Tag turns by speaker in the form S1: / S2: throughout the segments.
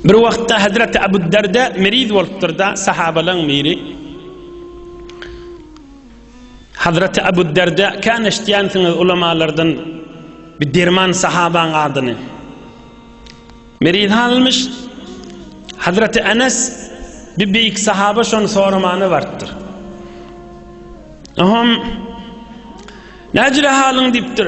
S1: Bir wagtda Hazreti Abu Darda meriz bolupdyr-da, sahabalaň biri Hazreti Abu Darda kän eşitýänsiňiz ulamalardan bir derman sahabaň adyny. Meriz halmyş Hazreti Enes bir beýik sahaba şony soramana bartdyr. Aham Näjire halyň diýipdir.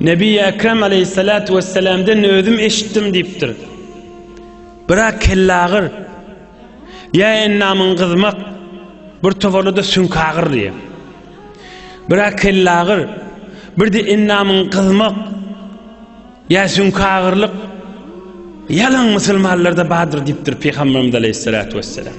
S1: Nebi-i Ekrem aleyhissalatu vesselam'den özüm eşitdim diýipdir. Birak kellagyr ýa endamyň gyzmak bir toparda sünkagyr diýip. Birak kellagyr bir de endamyň gyzmak ýa sünkagyrlyk ýalan musulmanlarda bardyr diýipdir Pygamberimiz aleyhissalatu vesselam.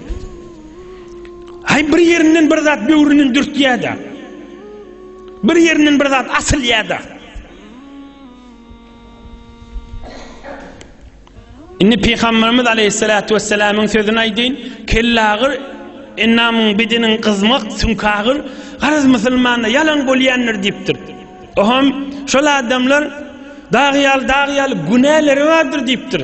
S1: Hay bir yerinden bir zat böwründen dürtýär-de. Bir yerinden bir zat asylýar-da. Indi Peygamberimiz aleyhissalatu vesselamyň sözüni aýdyň, kellagyr ennamyň bedeniň gyzmak sünkagyr garaz musulmanda ýalan bolýandyr diýipdir. Oham şol adamlar dagyýal dagyýal günäleri bardyr diýipdir.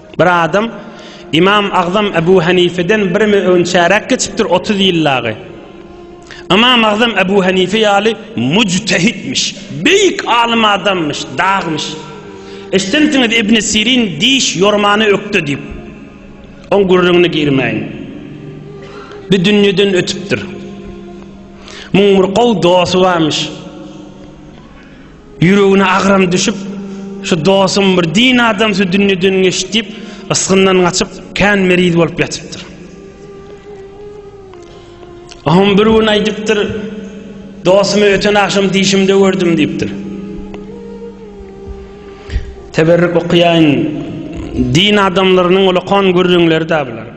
S1: Bir adam, Ymam Agzam Ebu Hanifeden bir mi on çäräk geçipdir, otuz ýyl dagy. Ymam Agzam Ebu Hanife ýaly müjtehitmiş, beýik alym adamyş, dagmyş. Eşdensiňiz Ibn Sirin diş ýormany ökde diýip. Oň gürrüňine girmäýin. Bu dünýeden ötüpdir. Muň bir gowy dosty barmyş. Ýüregine agram düşüp, şu dosum bir din adam şu dünýeden geçdi diýip, ysgyndan gaçyp, kän meriz bolup ýatypdyr. Oňam bir gün aýdypdyr, dosumy öten agşam dişimde gördüm diýipdir. Teberrük okaýaýyn, din adamlarynyň ulakan gürrüňleri-dä bular.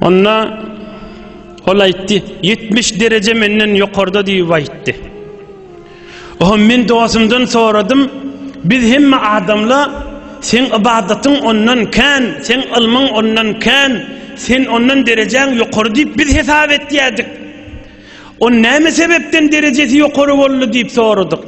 S1: Onda ol aýtdy, 70 dereje menden ýokarda diýip aýtdy. Oho men dostumdan soradym, biz hemme adamla sen ybadatyň ondan kän, sen ylmyň ondan kän, sen ondan derejäň ýokary diýip biz hesap etýärdik. On näme sebepden derejesi ýokary boldy diýip soradyk.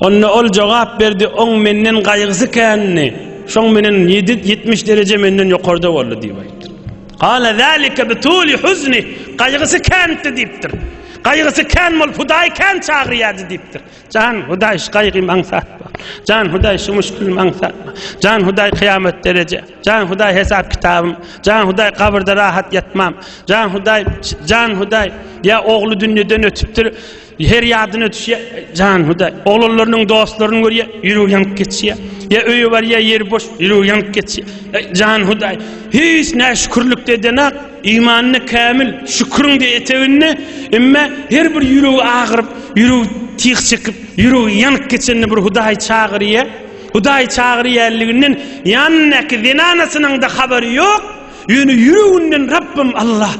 S1: Onda ol jogap berdi, Oň menden gaýgysy kändi, şoň menen ýedi, ýetmiş dereje menden ýokarda boldy diýip aýtdyr. Gala zalika bi tuli huzni, gaýgysy kändi diýipdir. Gaýgysy kän bolup Hudaýy kän çagyrýardy diýipdir. Jan Hudaý şu gaýgymy aňsatma. Jan Hudaý şu müşkilimi aňsatma. Jan Hudaý kyýamat dereje. Jan Hudaý hesap kitabym. Jan Hudaý kabyrda rahat ýatmam. Jan Hudaý, Jan Hudaý, ýa ogly dünýeden ötüpdir. Her ýadyna düşýär, jan Hudaý. Oglanlarynyň dostlaryny görýär, ýüregi ýanyp geçýär. Ýa öýe barýar, ýeri boş, ýüregi ýanyp geçýär. Eý, jan Hudaý, hiç näşükürlik edenok, imanyny kämil, şüküriň de eteginde, emma her bir ýüregi agyryp, ýüregi tyg çekip, ýüregi ýanyp geçende bir Hudaý çagyrýar. Hudaý çagyrýanlygyny ýanyndaky zenanasynyň-da habary ýok. Ýöne ýüreginden Rabbym Allah,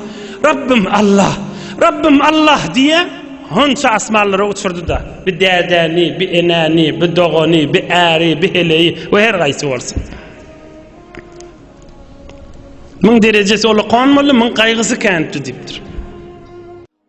S1: Rabbym Allah, Rabbym Allah diýýä, honça asmanlara uçurdy-da, bi dädäni, bi enäni, bi dogany, bi äri, bi heleýi we her gaýsy bolsa. Muň derejesi ola konmaly, muň gaýgysy känpdi diýipdir.